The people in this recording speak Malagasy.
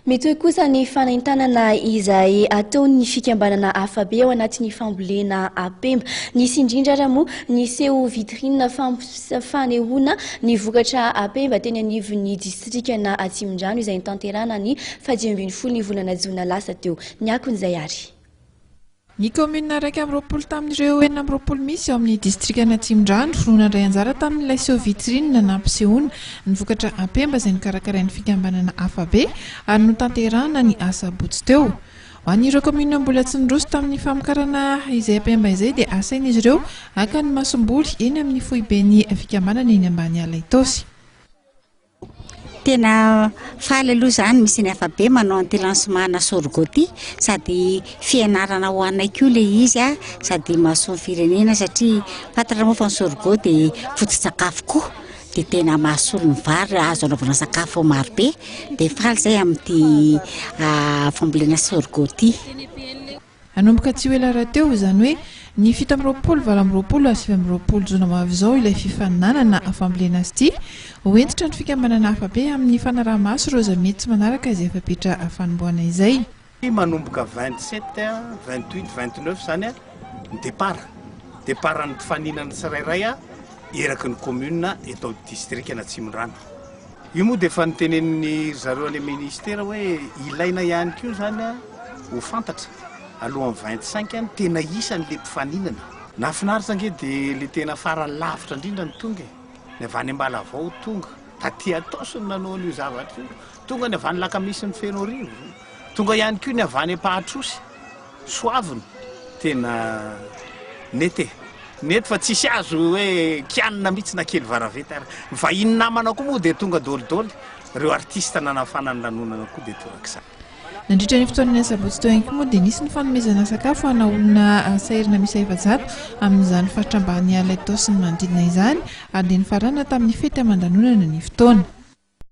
Mitohy kosa ny fanentanana izay ataon'ny fikambanana Afabe ao anatin'ny fambolena Apemba. Nisy indrindra ary moa ny seho vitrine fanehoana ny vokatra Apemba teny anivon'ny distrikana Atsimondrano izay notanterahana ny fahadimy ambin'ny folo ny volana jona lasa teo. Ny akon'izay ary. Ny kaominina iraika amby roapolo tamin'ireo enina amby roapolo misy ao amin'ny distrikan' Atsimondrano no nandray anjara tamin'ilay seho vitrine nampisehoana ny vokatra Apemba izay nokarakarain'ny fikambanana Afabe ary notanterahana ny asabotsy teo. Ho an'ireo kaominina mbola tsy niroso tamin'ny famokarana izay Apemba izay dia asain'izy ireo haka ny masomboly eny amin'ny foiben'ny fikambanana eny Ambaniala Itaosy. Tena faly aloha za ny misy ny afabe manao an'ity lancement ana sorgho ity sady fianarana ho anay koa ilay izy a, sady mahasoa ny firenena satria fantatra moa fa ny sorgho dia foto-tsakafo koa dia tena mahasolo ny vary raha azo anaovana sakafo maro be dia faly zay amin'ity fambolena sorgho ity. Hanomboka tsy ho ela rahateo, izany hoe ny fito amby roapolo, valo amby roapolo ary sivy amby roapolo jona ho avy izao ilay fifaninanana fambolena sty. Ho hentitra ny fikambanana hafa be amin'ny fanaraha-maso ireo zamiety tsy manaraka izay fepetra fanombohana izay. Manomboka vingt sept, vingt huit, vingt neuf izany ny départ. Départ ny mpifaninana tsirairay eraky ny commune eto amin'ny distrikan'Atsimondrano. Io moa dia efa notenenin'ny ry zareo any ministera hoe ilaina ihany koa izany ho fantatra alohan'ny vingt cinq ny tena isan'ilay mpifaninana. Nahafinaritra ange dia ilay tena farany lavitra indrindra no tonga e! Ny avy any Ambalavao tonga, taty Itaosy no nanao an'io zavatra io, tonga ny avy any Lakamisy ny Fenoarivo. Tonga ihany koa ny avy any Ampahatrosy, Soavina, tena nety e! Nety fa tsisy azo hoe kianina mihitsy na kely varaveta ary. Ny vahiny namana koa moa dia tonga dolidoly, ireo artista nanafana ny lanonana koa dia torak'izany. Nandritra ny fotoanan'ny asabotsy teo ihany koa moa dia nisy ny fanomezana sakafo ho ana olona sahirana miisa efajato amin'izany faritra ambaniala Itaosy sy ny manodidina izany ary dia nifarana tamin'ny fety aman-danonana ny fotoana.